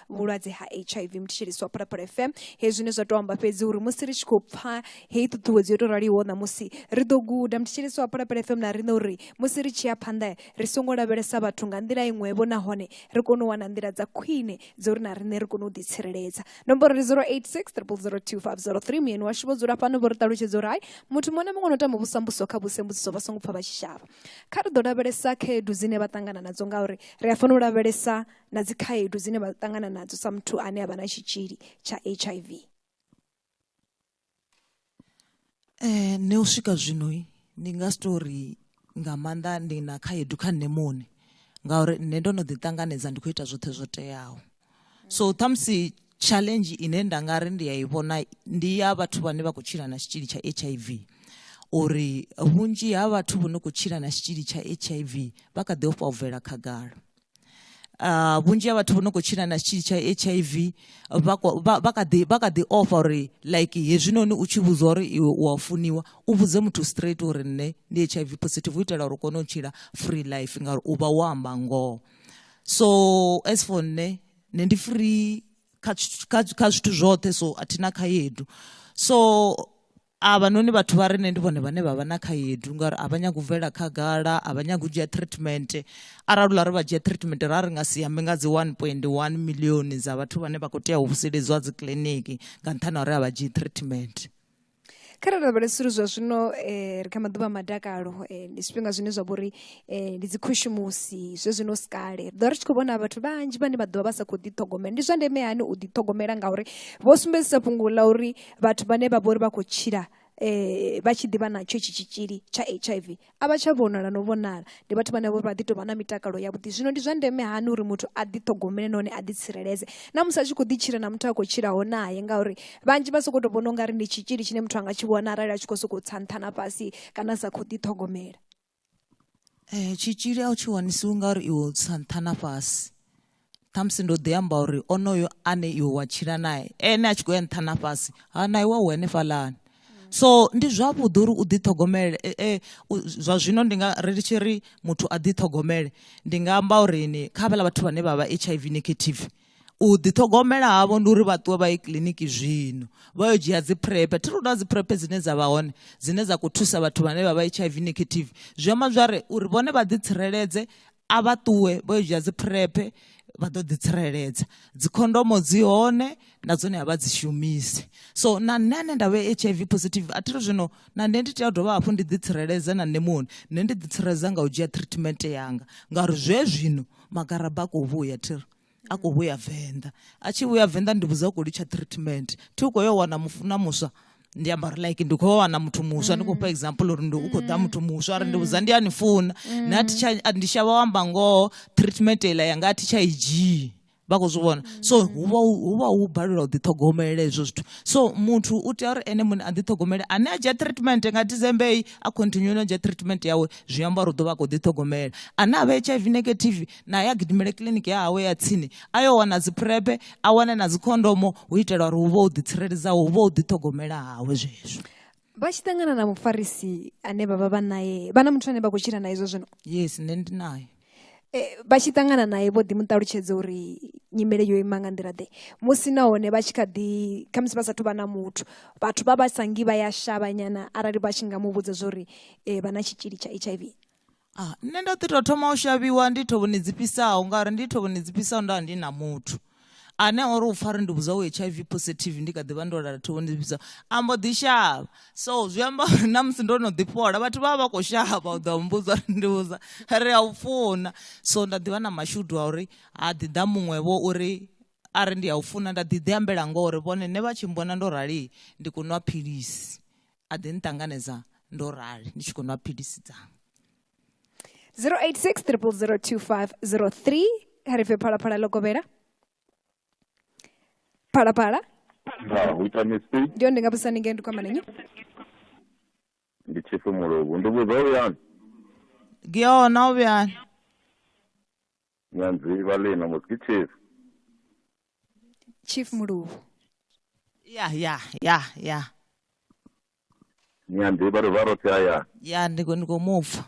vhulwadze ha hiv muthetshelisi wa phalaphala fm hezwi zwine zwa tou amba fhedzi uri musi ri tshi khou pfa heyi ṱhuṱhuwedzo yo tou raliho ṋamusi ri ḓo guda muthetshelisi wa phalaphala fm na riṋe uri musi ri tshi ya phanḓa ri songo lavhelesa vhathu nga nḓila iṅwevho nahone ri kone u wana nḓila dza khwine dzo uri na riṋe ri kone u ḓitsireledza nomboro ri 086 002503 muyeni washu vho dzula fhano vho ri ṱalutshedza uri hai muthu muṅwe na muṅwe no tama vhusambuso kha vhusembudziso vha songo pfa vha tshi shavha kha ri ḓo lavhelesa khaedu dzine vha ṱangana nadzo ngauri ri a fanela u lavhelesa na dzi khaedu dzine vha ṱangana nadzo sa muthu ane a vha na tshitzhili tsha hiv eh, ne u swika zwino ndi nga si tou ri nga maanḓa ndi na khaedu kha nṋe muṋe ngauri nṋe ndo no ḓi ṱanganedza ndi khou ita zwoṱhe zwo teaho so ṱhamusi challenge ine nda nga ri ndi ya i vhona ndi ya vhathu vhane vha khou tshila na tshitzhili tsha h i v uri vhunzhi ha vhathu vho no khou tshila na tshitzhili tsha h i v vha kha ḓi ofha u bvela khagala uh, vhunzhi ha vhathu vho no khou tshila na tshitzhili tsha h i v vha kha ḓi offa uri like hezwinoni u tshi vhudzwa uri iwe u a funiwa u vhudze muthu straight uri nṋe ndi h i v positive u itela uri u kone u tshila free life ngauri u vha wo amba ngoho so as for nṋe nṋe ndi free kha zwithu zwoṱhe so a thi na khaedu so avhanoni vhathu vha re nṋe ndi vhone vhane vha vha na khaedu ngauri a vha nyagi u bvelela khagala a vha nyagi u dzhia treatment arali ula ri vha dzhia treatment ra ri nga si ambe nga dzi 1.1 milioni dza vhathu vhane vha khou tea u vuseledziwa dzi kiliniki nga nṱhani ha uri a vha dzhii treatment kha ra lavhelesa uri zwa zwino um ri kha maḓuvha a madakalo eh, ndi zwifhinga zwine zwa vha uri eh, ndi dzikhushumusi zwe zwino si kale ri ḓo ri tshi khou vhona vhathu vhanzhi vhane vha ḓovha vha sa khou ḓiṱhogomela ndi zwa ndeme hani u ḓiṱhogomela ngauri vho sumbedzisa fhungo ḽa uri vhathu vhane vha vhori vha khou tshila eh vha tshi ḓivha natsho itshi tshitzhili tsha hiv a vha tsha vhonala no vhonala ndi vhathu vhane vhori vha ḓi tovha na mitakalo yavhuḓi zwino ndi zwa ndeme hani uri muthu a ḓi ṱhogomele nahone a ḓi tsireledze na musi a tshi khou ḓi tshila na muthu a khou tshilaho naye ngauri vhanzhi vha sokou tou vhona u nga ri ndi tshitzhili tshine muthu a nga tshi vhona arali a tshi khou sokou tsa nṱha na fhasi kana sa khou ḓi ṱhogomela Tshitzhili a u tshi wanisiwi nga uri iwe u tsa nṱha na fhasi ṱhamusi ndo ḓi amba uri onoyo ane iwe wa tshila nae ene a tshi khou ya nṱha na fhasi ha na iwe u henefhalani so ndi zwavhuḓi uri u ḓiṱhogomele e, e, zwa zwino ndi nga ri tshi ri muthu a ḓiṱhogomele ndi nga amba uri ni kha vhala vhathu vhane vha vha hiv negative u ḓiṱhogomela havho ndi uri vha ṱuwe vha ye kiḽiniki zwino vha yo dzhia dzi prep thi ri dzi prep dzine dza vha hone dzine dza khou thusa vhathu vhane vha vha hiv negative zwi amba zwa ri uri vhone vha ḓitsireledze a vha ṱuwe vha yo dzhia dzi prep vha ḓo ḓitsireledza dzikhondomo dzi hone na dzone a vha dzi shumise so na nṋe ane nda vhe h i v positive a thi ri zwino na nṋe ndi tea u dovha hafhu ndi ḓitsireledze na nṋe muhone nṋe ndi ḓitsireledza nga u dzhia treatment yanga ngauri zwe zwino magaraba a khou vhuya thi ri a khou vhuya venḓa a tshi vhuya venḓa ndi vhudza u khou litsha treatment thi u khou yo wana mufuna muswa ndi amba uri like ndi khou wana muthu muswa ndi khou fha example uri ndi u khou ḓa muthu muswa ari ndi vhudza ndi a ni funa na thi tsha ndi shavha u amba ngoho treatment iḽa yanga a thi tsha i dzhii vha khou zwi vhona so huvha huvha hu balelwa u ḓiṱhogomela hezwo zwithu so muthu u tea uri ene muṋe a ḓiṱhogomele ane a dzhia treatment nga december eyi a continue no dzhia treatment yawe zwi amba uri u ḓo vha a khou ḓiṱhogomela ane a vha hiv negative naye a gidimele kiḽiniki ya hawe ya tsini a yo wana dziphrepe a wane na dzikhondomo u itela uri hu vha u ḓitsireledza hu vha u ḓiṱhogomela hawe zwezwo vha tshi ṱangana na mufarisi ane vha vha vha naye vha na muthu ane vha khou tshila naye zwo zwino yes nṋe ndi naye Eh, vha tshi ṱangana naye vho ḓi mu ṱalutshedza uri nyimele yo ima nga nḓila ḓe musi nahone vha tshi kha ḓi khamusi vha sathu vha na muthu vhathu vha vha sangi vha ya shavhanyana arali vha tshi nga mu vhudza zwo ri eh, vha na tshitzhili tsha hiv ah, nṋe ndo ḓi tou thoma u shavhiwa ndi thovhoni dzi fhisaho ngauri ndi thovhoni dzi fhisaho nda ndi na muthu ane ori u fari ndi vhudzwa u hiv positive ndi kha ḓivha ndo lala thovhoni dzi fhisaho ambo ḓi shavha so zwi amba uri na musi ndo no ḓi fhola vhathu vha vha vha khou shavha u ḓa mmbudza ri ndi vhudza ri a u funa so nda ḓivha na mashudu a uri ha ḓi ḓa muṅwevho uri ari ndi a u funa nda ḓi ḓi ambela ngori vhone ne vha tshi mbona ndo rali ndi kunwa philisi a ḓi nṱanganedza ndo rali ndi tshi khou nwa philisi dzanga 086 002503 kha ri pfe phalaphala ḽo kovhela phalaphala ndi one ndi nga vhudzisa ninge ndi kwamana nyi ndi tshifu muluvhu ndi vhudza u yani giyona u vhuyani nyanzi vhalina muziki chief chief muluvhu ya ya ya ya nyanzi vha ri vha rothi hayani ya ndi khou- ndi khou mupfa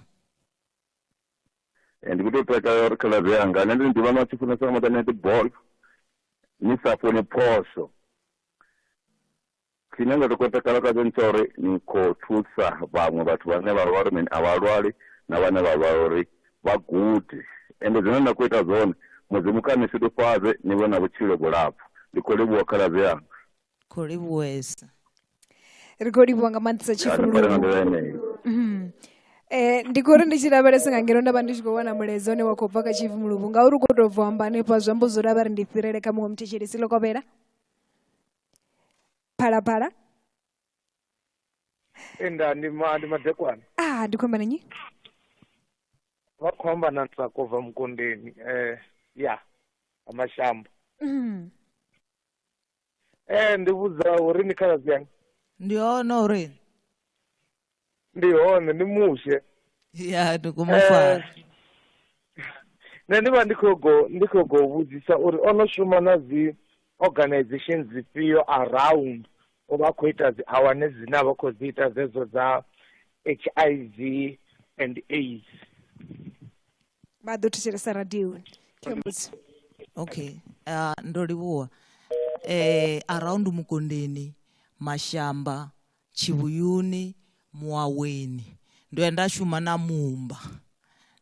Eh, ndi kuto takala uri khala zwe yanga nṋe ndi ndi vhana tshi funesa nga maḓana ndi ball ni sa funi phosho Tshine nda to khou takala khatsho ndi tsha uri ni khou thusa vhaṅwe vhathu vhane vha vha uri mini a vha lwali na vhane vha vha uri vha gude ende zwine na khou ita zwone mudzimu kha ni shudufhadze ni vhe na vhutshilo vhulapfu ndi khou livhuwa khaladzi yanga khou livhuwesa ri khou livhuwa nga maanḓisa tshifululuu mhm. eh, ndi khou ri ndi tshi lavhelesa nga ngeno nda vha ndi tshi khou wana mulaedza une wa khou bva kha tshivumuluvu ngauri u khou tou bva amba hanefha zwi amba zwo ri a vha ri ndi fhirele kha muṅwe muthetshelesi ḽo kovhela phalaphala enda ndi ma ndi madekwana ah ndikhomba nanyi vakhomba na ntsako va mukondeni eh ya amashambo mm. eh ndi vhudza uri ni khaladzi yanga ndi ono uri ndi hone ndi mushe ya ndi khou mu fara Eh, nṋe ndi vha ndi khou go ndi khou go vhudzisa uri o no shuma na dzi organization dzifhio around u vha a khou ita dzi awane dzine a vha khou dzi ita dzedzo dza h i v and aids vha ḓo thetshelesa radioni khe mbudzi okay uh, ndo livhuwa eh around mukondeni mashamba Tshivhuyuni, Muwaweni. Ndo ya nda shuma na mumba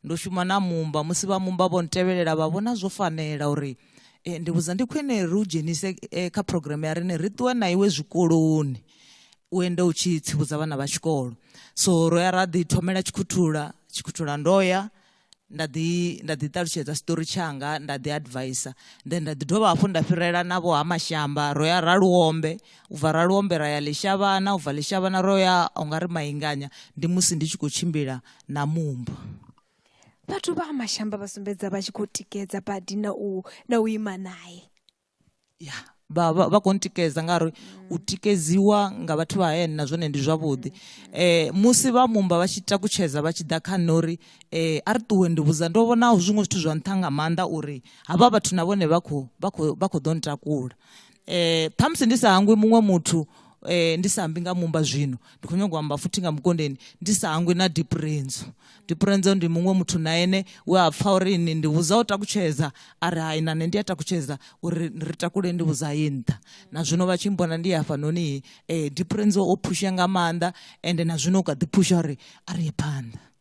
ndo shuma na mumba musi vha mumba vho ntevhelela vha vhona zwo fanela uri e, ndi vhudza ndi khwine ri u dzhenise e, kha programme ya rine ri ṱuwe na iwe zwikoloni u ende u tshi tsivhudza vhana vha tshikolo so ro ya ra ḓi thomela tshikhuthula tshikhuthula ndo ya nda ḓi nda ḓi ṱalutshedza story tshanga nda ḓi advisa then nda ḓi dovha hafhu nda fhirela na vho ha mashamba ro ya ra luombe u bva ra luombe ra ya ḽishavhana u bva ḽishavhana ro ya u nga ri mainganya ndi musi ndi tshi khou tshimbila na mumba vhathu vha ha mashamba vha sumbedza vha tshi khou tikedza badi na u na u ima naye ya vha vha vha kho ntikedza ngauri u tikedziwa nga vhathu vha hayani na zwone ndi zwavhuḓi eh musi vha mumba vha tshi takutshedza vha tshi ḓa kha nṋe uri eh a ri ṱuwe ndi vhudza ndo vhona zwiṅwe zwithu zwa nṱha nga maanḓa uri havha vhathu na vhone vha khou vha khou vha khou ḓo ntakula eh ṱhamusi ndi sa hangwi muṅwe muthu eh ndi sa ambi nga mumba zwino ndi khou nyanga u amba futhi nga mukondeni ndi sa hangwi na deep renzo tipurenze ndi muṅwe muthu na ene we a pfa uri ni ndi vhudza u takutshedza a ri hai na nṋe ndi a takutshedza uri ri takule ndi vhudza ye nṱha na zwino vha tshi mbona ndi hafha noni um eh, dipurenze o phusha nga maanḓa ende na zwino u kha ḓi phusha uri a ri ye phanḓa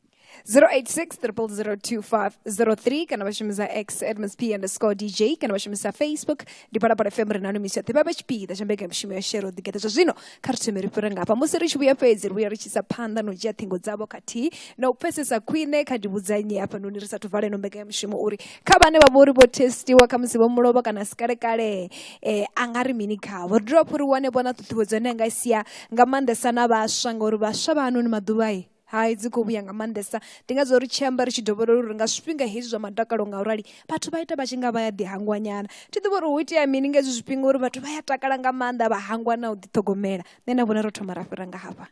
086-002-503 kana vha shumisa x admsp underscore dj kana vha shumisa facebook ndi phala phala fm ri nanu misi yoṱhe vha vha tshipiḓa tsha mbekanyamushumo ya shero ḓigeḓa zwa zwino kha ri thome ri fhira ngafha musi ri tshi vhuya fhedzi ri vhuya ri tshi sa phanḓa na u dzhia ṱhingo dzavho khathihi na u pfesesa khwine kha ndivhudza nnyi hafhanoni ri sathu vala ino mbekanyamushumo uri kha vhane vha vha uri vho testiwa kha musi vho mulovha kana si kalekale eh, a nga ri mini khavho ri dovha hafhu ri wane vhona ṱhuṱhuwedzo ine a nga i sia nga maanḓesa na vhaswa ngauri vhaswa vha hanoni maḓuvha i hai dzi khou vhuya nga maanḓesa ndi nga zwo ri tshi amba ri tshi dovholola uri nga zwifhinga hezwi zwa madakalo nga urali vhathu vha ita vha tshi nga vha ya ḓihangwanyana thi ḓivha uri hu itea mini nga hezwi zwifhinga uri vhathu vha ya takala nga maanḓa vha hangwa na u ḓiṱhogomela nṋe na vhona ro thoma ra fhira nga hafha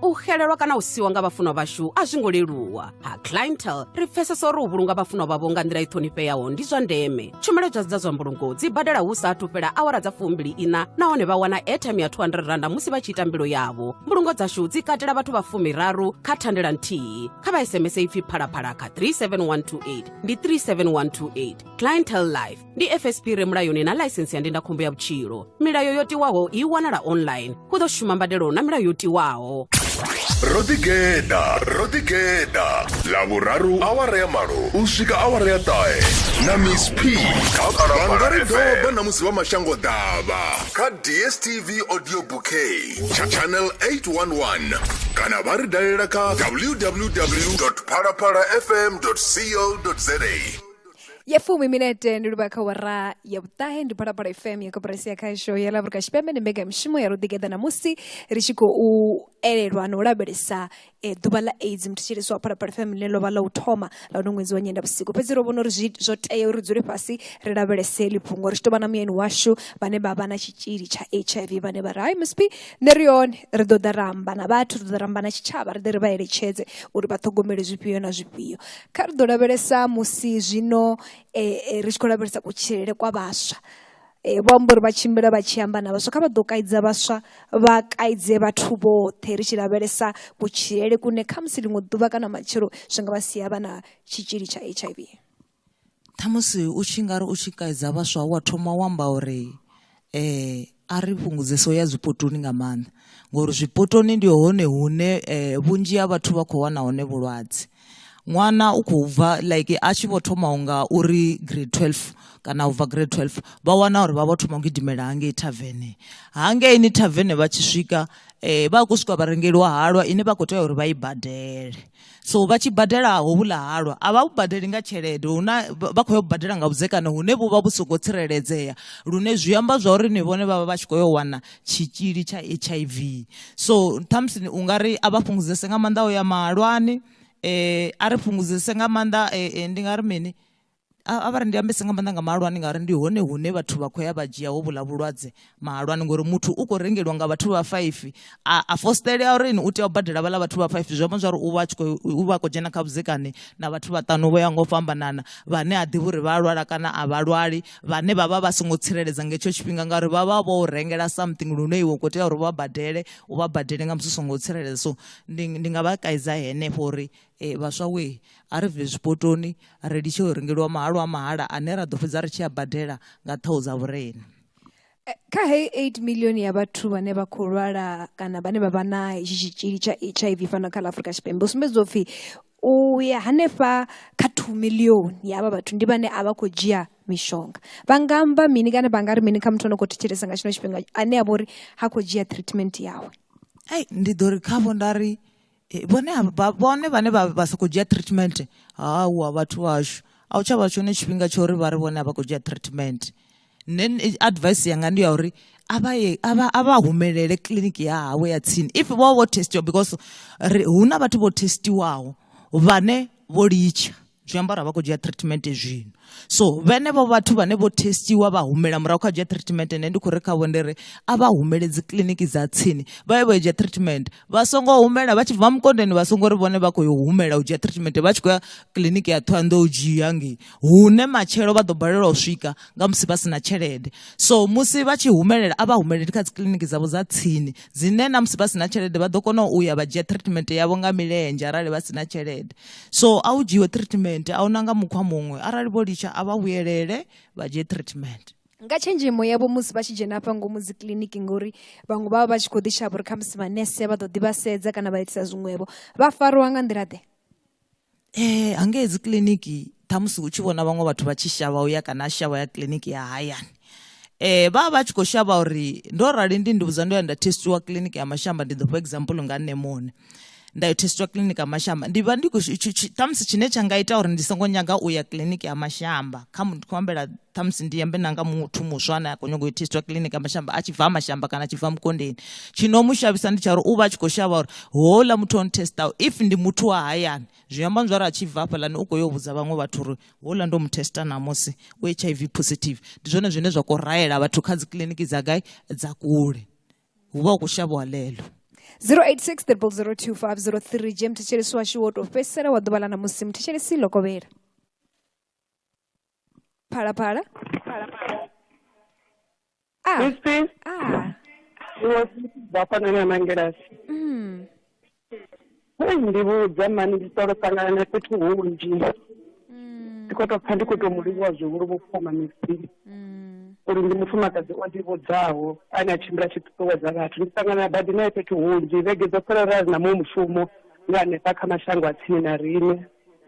u xelelwa kana u siwa nga vhafunwa vhashu a zwi ngo leluwa ha clientele ri pfesesa uri u vhulunga vhafunwa vhavho nga nḓila i ṱhonifheaho ndi zwa ndeme tshumelo dza dza zwa mbulungo dzi badela hu sa athu fhela awara dza fumbili ina nahone vha wana airtime ya 200 randa musi vha tshi ita mbilo yavho mbulungo dzashu dzi katela vhathu vha fumiraru kha thandela nthihi kha vha sms ipfi phalaphala kha 37128 ndi 37128 clientel life ndi fsp re mulayoni na laisensi ya ndindakhombo ya vhutshilo milayo yo tiwaho i wanala online hu ḓo shuma mbadelo na milayo yo tiwaho ro ḓigeḓa ro ḓigeḓa lavhuraru awara ya malo u swika awara ya ṱahe na miss p vhangari doba na musi vha mashango ḓavha kha dstv audio bouquet tsha channel 811 kana vha ri dalela kha www phalaphala fm co za ya fumi minete ndi livha kha wara ya vhuṱahe ndi phalaphala fm ya koporasi ya khasho ya lavurika tshipembe ndi mbega mishumo ya ruḓigeḓa ṋamusi ri tshi khou elelwa na u lavhelesa eh, ḓuvha ḽa aids muthu tshi liswa phalaphala fm ḽine ḽo vha ḽa u thoma ḽa uno ṅwedzi wa nyenda vhusiku fhedzi ro vhona uri zwi- zwo tea uri dzule fhasi ri lavhelese ḽi fhungo ri tshi tou vha na muyeni washu vhane vha vha na tshitzhili tsha hiv vhane vha ri hai msp nṋe ri hone ri ḓo ḓa ra amba na vhathu ri ḓo ḓa ra amba na tshitshavha ri ḓe ri vha eletshedze uri vha ṱhogomele zwifhio na zwifhio Kha ri ḓo lavhelesa musi zwino ri tshi khou lavhelesa kutshilele kwa vhaswa. Vho amba uri vha tshimbila vha tshi amba na vhaswa, kha vha ḓo kaidza vhaswa vha kaidze vhathu vhoṱhe ri tshi lavhelesa kutshilele kune khamusi ḽiṅwe ḓuvha kana matshelo zwi nga vha sia vha na tshitzhili tsha H_I_V. Ṱhamusi u tshi nga ri u tshi kaidza vhaswa wa thoma wa amba uri um a ri fhungudze so ya zwipotoni nga maanḓa ngori zwipotoni ndi hone hune um vhunzhi ha vhathu vha khou wana hone vhulwadze ṅwana u khou bva like a tshi vho thoma u nga uri grade twelve kana u bva grade twelve vha wana uri vha vho thoma u gidimela hangei thavene hangeini thavene vha tshi swika um vha khou swika vharengeliwa halwa ine vha khou tea uri vha i badele so vha tshi badela hovhula halwa a vha vhu badeli nga tshelede huna vha khou ya u badela nga vhudzekani hune vhu vha vhu songo tsireledzea lune zwi amba zwa uri ni vhone vha vha vha tshi khou yo wana tshitzhili tsha h i v so ṱhamusi u nga ri a vha fhungudzese nga maanḓa o ya mahalwani um a ri fhungudzese nga maanḓa um ndi nga ri mini a vha ri ndi ambese nga maanḓa nga mahalwani ngauri ndi hone hune vhathu vha khou ya vha dzhia hovhula vhulwadze mahalwani ngori muthu u khou rengeliwa nga vhathu vha faifi a, a fositelea uri ni u tea u badela vhala vhathu vha faifi zwi amba zwa uri u vha u vha khou dzhena kha vhudzekani na vhathu vhaṱanu vho ya ngo fhambanana vhane a ḓivha uri vha lwala kana a vha lwali vhane vha vha vha songo tsireledza nga hetsho tshifhinga ngauri vha vha vho rengela something lune iwe u khou tea uri vha badele u vha badele nga musi u songo tsireledza so ndi, ndi nga vha kaidza henefho uri E, vhaswa wee, a ri bve zwipotoni ri litshe u rengeliwa mahalo a mahala ane ra ḓo fhedza ri tshi a badela nga ṱhoho dza vhurena. Eh, kha heyi 8 milioni ya vhathu vhane vha khou lwala kana vhane vha vha na hetshi tshitzhili tsha hiv fhano kha ḽa afrika tshipembe u sumbedza upfhi u ya hanefha kha 2 milioni ya havha vhathu ndi vhane a vha khou dzhia mishonga vha nga amba mini kana vha nga ri mini kha muthu o no khou thetshelesa nga tshino tshifhinga ane a vha uri ha khou dzhia treatment yawe ai ndi ḓo ri khavho nda ri eh, vhone vhone vhane vha sokou dzhia treatment hawa vhathu vhashu a u tsha vha tshone tshifhinga tsha uri vha ri vhone a vha khou dzhia treatment nṋe eh, advice yanga ndi ya uri a vha humelele kiḽiniki ya hawe ya tsini if vho vho testiwa because hu na vhathu vho testiwaho vhane vho litsha zwi amba uri vha khou dzhia treatment zwino so vhenevho vhathu vhane vho testiwa vha humela murahu kha dzhia treatment ene ndi khou ri khavho ndi ri a vha humele dzi kiḽiniki dza tsini vha ye vha yo dzhia treatment vha songo humela vha tshi bva mukondeni vha songo ri vhone vha khou yo humela u dzhia treatment vha tshi khou ya kiḽiniki ya ṱhohoyanḓou u dzhia ngei hune matshelo vha ḓo balelwa u swika nga musi vha si na tshelede so musi vha tshi humelela a vha humeleli kha dzi kiḽiniki dzavho dza tsini dzine na musi vha si na tshelede vha ḓo kona u ya vha dzhia treatment yavho nga milenzhe arali vha si na tshelede so a u dzhiwe treatment a una nga mukhwa muṅwe arali vho litsha a vha vhuyelele vha dzhie treatment nga tshenzhemo yavho musi vha tshi dzhena hafha ngomu dzi kiliniki ngori vhaṅwe vha vha vha tshi khou ḓi shavha uri khamusi manese vha ḓo ḓi vha sedza kana vha itisa zwiṅwevho vha fariwa nga nḓila ḓe eh hangei dzi kiliniki ṱhamusi u tshi vhona vhaṅwe vhathu vha tshi shavha uya kana a shavha ya kiliniki ya hayani eh vha vha tshi khou shavha uri ndo rali ndi ndi vhudza ndo ya nda testiwa clinic ya mashamba ndi ḓo for example nga nṋe muṋe nda yo testiwa clinic ya mashamba ndi vha ndi ṱhamusi tshine tsha nga ita uri ndi songo nyaga u ya clinic ya mashamba kha muthu khou ambela ṱhamusi ndi yambe nanga muthu muswa ane a khou nyaga u testiwa clinic ya mashamba a tshi bva mashamba kana a tshi bva mukondeni tshino mu shavhisa ndi tsha uri u vha a tshi khou shavha uri houḽa muthu o ntestaho if ndi muthu wa hayani zwi amba nzwari a tshi bva hafhaḽani u khou yo vhudza vhaṅwe vhathu uri houḽa ndo mu testa ṋamusi u h i v positive ndi zwone zwine zwa khou raela vhathu kha dzi kiḽiniki dza gai dza kule hu vha hu khou shavhiwa ḽeḽo 086 002503 je mthetshelesi washu wo tou fhedzisela wa ḓuvha ḽa ṋamusi mthetshelesi ḽo kovhela phalaphala Ah. Christine, Ah. ndi wa vha fana na mangelasi. Mm. Hei ndi vhudza mani ndi solo ṱangana na fhethu hunzhi. Mm. Ndi khou tou pfa ndi khou tou mu livhuwa zwihulu vhukuma Mixie. Mm. Uri ndi mufumakadzi o ḓivhudzaho ane a tshimbila tshi ṱuṱuwedza vhathu. Ndi ṱangana badi nae fhethu hunzhi vhege dzo fhela ra ri na muṅwe mushumo nga hanefha kha mashango a tsini na riṋe.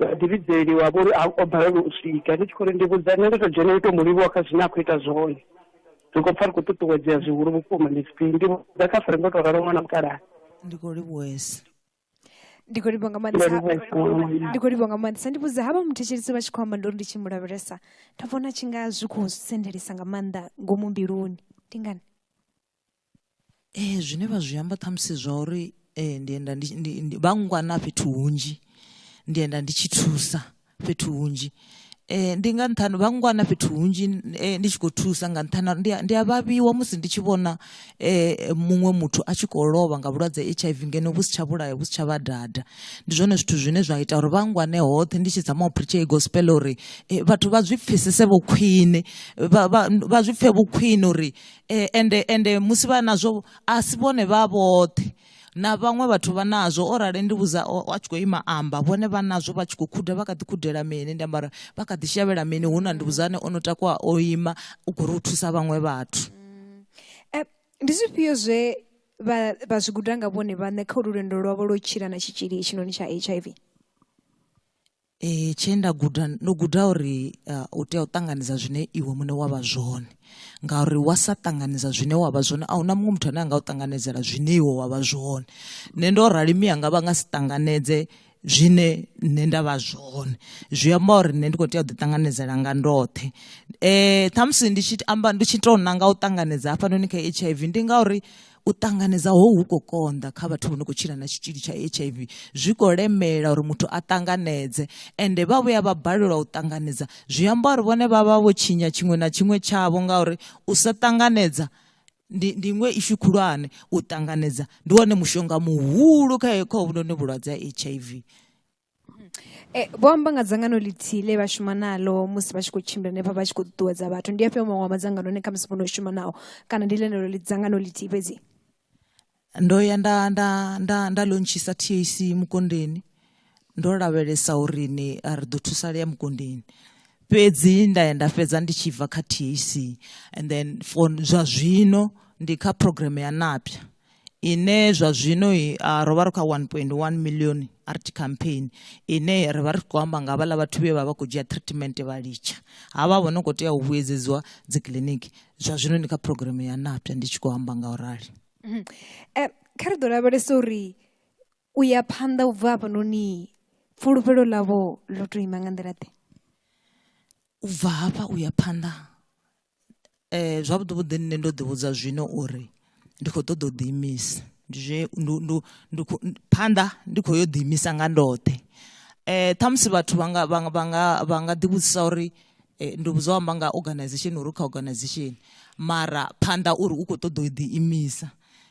vhadivhidzeli wa vhori o balelwa u swika ndi tshi khou ri ndi vhudza nṋe ndo to dzhena u to mu livhuwa kha zwine a khou ita zwone ri khou pfa ri khou ṱuṱuwedzea zwihulu vhukuma ndi tshifhinga ndi vhudza kha fere ndo to ralo ṅwana mukalaha ndi khou livhuwesa ndi khou livhuwa nga maanḓesa ndi khou livhuwa nga maanḓesa ndi vhudza havha muthetshelisi vha tshi khou amba ndori ndi tshi mu lavhelesa nda vhona tshi nga zwi khou sendelisa nga maanḓa ngomu mbiluni ndi ngani Ee, zwine vha zwi amba ṱhamusi zwa uri ndi enda ndi vha ngwana fhethu hunzhi ndi enda ndi tshi thusa fhethu hunzhi ndi nga nṱhani vha ngwana fhethu hunzhi ndi tshi khou thusa nga nṱhani ha uri ndi a vhavhiwa musi ndi tshi vhona muṅwe muthu a tshi kho lovha nga vhulwadze ha H_I_V ngeno vhu si tsha vhulaya vhu si tsha vha dada. Ndi zwone zwithu zwine zwa ita uri vha ngwane hoṱhe ndi tshi dzama u phuritsha heyi gospel uri vhathu vha zwi pfhesese vho khwiṋe vha zwi pfhe vhu khwiṋe uri e, ende ende musi vha nazwo a si vhone vha vhoṱhe na vhaṅwe vhathu vha nazwo o rali ndi vhudza a tshi khou ima amba vhone vha nazwo vha tshi khou khuda vha kha ḓi khudela mini ndi ambara vha kha ḓi shavhela mini hu na ndi vhudzane o no takuwa o ima u khou ri u thusa vhaṅwe vhathu mm. eh, ndi zwifhio zwe vha vha zwi guda nga vhone vhaṋe kha ulu lwendo lwavho lwo tshila na tshitzhili hetshinoni tsha h i v Eh, tshe nda guda ndo guda uri uh, u tea u ṱanganedza zwine iwe muṋe wa vha zwone ngauri wa sa ṱanganedza zwine wa vha zwone a hu na muṅwe muthu ane a nga u ṱanganedzela zwine iwe wa vha zwone nṋe ndo rali miyanga vha nga si ṱanganedze zwine nṋe nda vha zwone zwi amba uri nṋe ndi khou tea u ḓiṱanganedzela nga ndoṱhe um ṱhamusi ndi tshi amba ndi tshi tou nanga u ṱanganedza hafhanoni kha h i v ndi ngauri u ṱanganedza ho hu khou konḓa kha vhathu vho no khou tshila na tshitzhili tsha h i v zwi khou lemela uri muthu a ṱanganedze ende vha vhuya vha balelwa u ṱanganedza zwi amba uri vhone vha vha vho tshinya tshiṅwe na tshiṅwe tshavho ngauri u sa ṱanganedza ndi ndi iṅwe ishu khulwane u ṱanganedza ndi wone mushonga muhulu kha kha hovhunoni vhulwadze ha h i v Eh, vho amba nga dzangano ḽithihi ḽe vha shuma nalo musi vha tshi khou tshimbila hanefha vha tshi khou ṱuṱuwedza vhathu ndi afhio maṅwe a madzangano ane khamusi vhono shuma nao kana ndi ḽeneḽo ḽi dzangano ḽithihi fhedzi ndo ya nda nda nda nda lontshisa TAC mukondeni ndo lavhelesa uri ni a ri ḓo thusalea mukondeni fhedzi nda ya nda fhedza ndi tshi bva kha TAC and then for zwa zwino ndi kha program ya napya ine zwa zwino ah, ro vha ri kha 1.1 million art campaign ine ri vha ri khou amba nga vhala vhathu vhe vha vha khou dzhia treatment vha litsha ha vha vho no khou tea u vhuedzedziwa dzi kiliniki zwa zwino ndi kha program ya napya ndi tshi khou amba nga u rali mhm. eh, kha ri ḓo lavhelesa uri u ya phanḓa u bva hafhanoni fulufhelo ḽavho ḽo tou ima nga nḓila ḓe u bva hafha u ya phanḓa eh, zwavhuḓi vhuḓi nṋe ndo ḓi vhudza zwino uri ndi khou ṱoḓa u ḓiimisa ndi zwe phanḓa ndi khou yo ḓiimisa nga ndoṱhe eh ṱhamusi vhathu vha nga vha nga vha nga ḓi vhudzisa uri eh, ndi vhudzwa amba nga organization uri kha organization mara phanḓa uri u khou ṱoḓa u ḓiimisa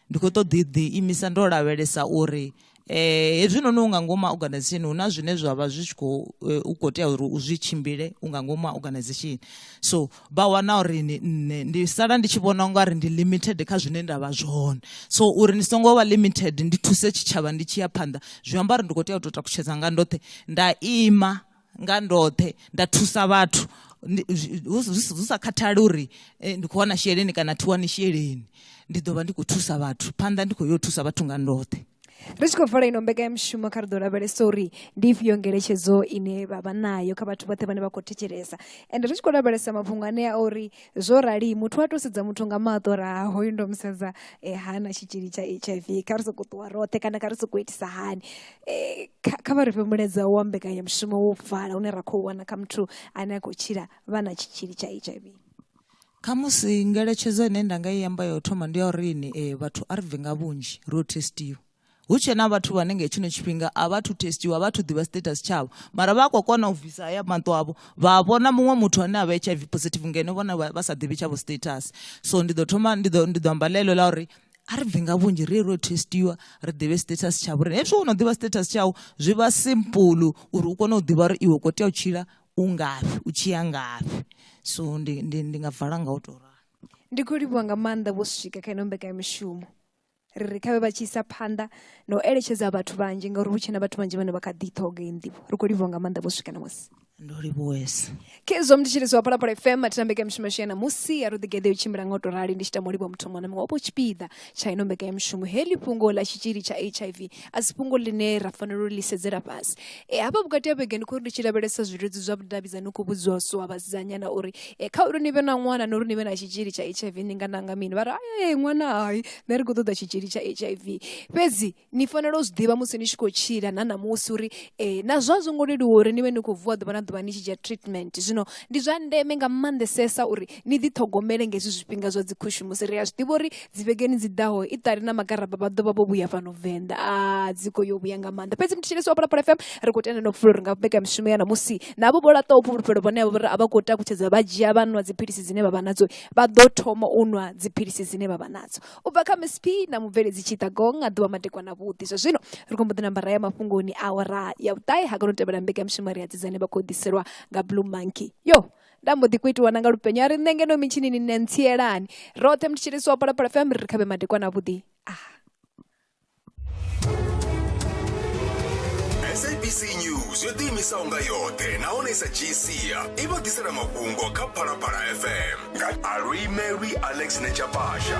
ndi khou ṱoḓa ḓi imisa ndo lavhelesa uri eh hezwi noni u nga ngomu organization hu na zwine zwa vha zwi tshi khou eh, u khou tea uri u zwi tshimbile u nga ngomu organization so vha wana uri ni nne ndi sala ndi tshi vhona unga ri ndi limited kha zwine nda vha zwone so uri ni songo vha limited ndi thuse tshitshavha ndi tshi ya phanḓa zwi amba uri ndi khou tea u tou takutshedza nga ndoṱhe nda ima nga ndoṱhe nda thusa vhathu hu sa khathali uri eh, ndi khou wana sheleni kana thi wani sheleni ndi ḓo vha ndi khou thusa vhathu phanḓa ndi khou yo thusa vhathu nga ndoṱhe ri tshi khou fela ino mbekanyamushumo kha ri ḓo lavhelesa uri ndi ifhio ngeletshedzo ine vha vha nayo kha vhathu vhoṱhe vhane vha khou thetshelesa ende ri tshi khou lavhelesa mafhungo anea a uri zwo rali muthu wa tou sedza muthu nga maṱo ra hoyu ndo mu sedza um eh, ha na tshitzhili tsha h i v kha ri sokou ṱuwa roṱhe kana kha ri sokou itisa hani eh, kha kha vha ri fhe mulaedza wa mbekanyamushumo wo pfala une ra khou wana kha muthu ane a khou tshila vha na tshitzhili tsha h i v khamusi ngeletshedzo ine nda nga i amba ya u thoma ndi ya uri ni eh, vhathu a ri bve nga vhunzhi ro testiwa hu tshe na vhathu vhane nga tshino tshifhinga a vha thu testiwa vha thu ḓivha status tshavho mara vha a khou kona u bvisa haya maṱo avho vha vhona muṅwe muthu ane a vha h i v positive ngeno vhona vha sa ḓivhi tshavho status so ndi ḓo thoma ndi ḓo ndi ḓo amba ḽeḽo ḽa uri a ri bvi nga vhunzhi ri ro testiwa ri ḓivhe status tsha vhurene hezwi wo no ḓivha status tshau zwi vha simple uri u kone u ḓivha uri iwe kho tea u tshila u ngafhi u tshi ya ngafhi so ndi ndi ndi nga vala nga u tou ralo ndi khou livhuwa nga maanḓa vho swika kha ino mbekanyamishumo ri ri khavhe vha tshi isa phanḓa na u eletshedza vhathu vhanzhi ngauri hu tshena vhathu vhanzhi vhane vha kha ḓi ṱhoga iyi nḓivho ri khou livhuwa nga maanḓa vho swika na musi ndo livhuwesa khezwo mnditshiriso wa phalaphala fm a thi tambeke mishumo yashu ya namusi ya ruḓigeḓe u tshimbila nga u tou rali ndi tshi tamo livha muthu muṅwe na muṅwe wapo tshipiḓa tsha ino mbeka ya mishumo heḽi fhungo ḽa tshitzhili tsha hiv a si fhungo ḽine ra fanela u ḽi sedzela fhasi e hafha vhukati ha vhege ndi khou ri ndi tshi lavhelesa zwiludzi zwa vhudavhidzani u khou vhudziwa so a vhasidzanyana uri e kha uri ni vhe na ṅwana na uri ni vhe na tshitzhili tsha hiv ni nga nanga mini vha ri ae ṅwana hai nṋe ri khou ṱoḓa tshitzhili tsha hiv fhedzi ni fanela u zwi ḓivha musi ni tshi khou tshila na ṋamusi uri um na zwa zwo ngo leluwa uri ni vhe ni khou vuwa ḓuvha na ḓuvha ni tshi dzhia treatment zwino ndi zwa ndeme nga maanḓesesa uri ni ḓiṱhogomele nga hezwi zwifhinga zwa dzi khushumusi ri a zwi ḓivha uri dzi vhegeni dzi ḓaho i ṱali na magaraba vha ḓovha vho vhuya fhano venḓa a dzi khou yo vhuya nga maanḓa fhedzi mutshilisi wa phalaphala fm ri khou tenda no fula uri nga beka mishumo ya ṋamusi navho vho laṱaho fhulufhelo vhone avho uri a vha khou takutshedza vha dzhia vha nwa dziphilisi dzine vha vha nadzo vha ḓo thoma u nwa dziphilisi dzine vha vha nadzo u bva kha msp na mubveledzi tshitagong a ḓuvha madekwana vhuḓi zwa zwino ri khombo ḓi namba ra ya mafhungoni awara ya vhuṱahe ha kona u tevhela mbekanyamushumo ri a dzidzane vha khou ḓiselwa nga blue monkey yo nda mbo ḓi kuitiwa na nga lupenyo a ri nṋe ngeno mitshinini nṋe ntsielani roṱhe mutshitshilisi wa palapala fm ri ri khavhe madekwana vhuḓi ah sabc news yo ḓiimisaho nga yoṱhe nahone i sa dzhii sia i vha ḓisela mafhungo kha phalaphala fm nga alwi mary alex nechapasha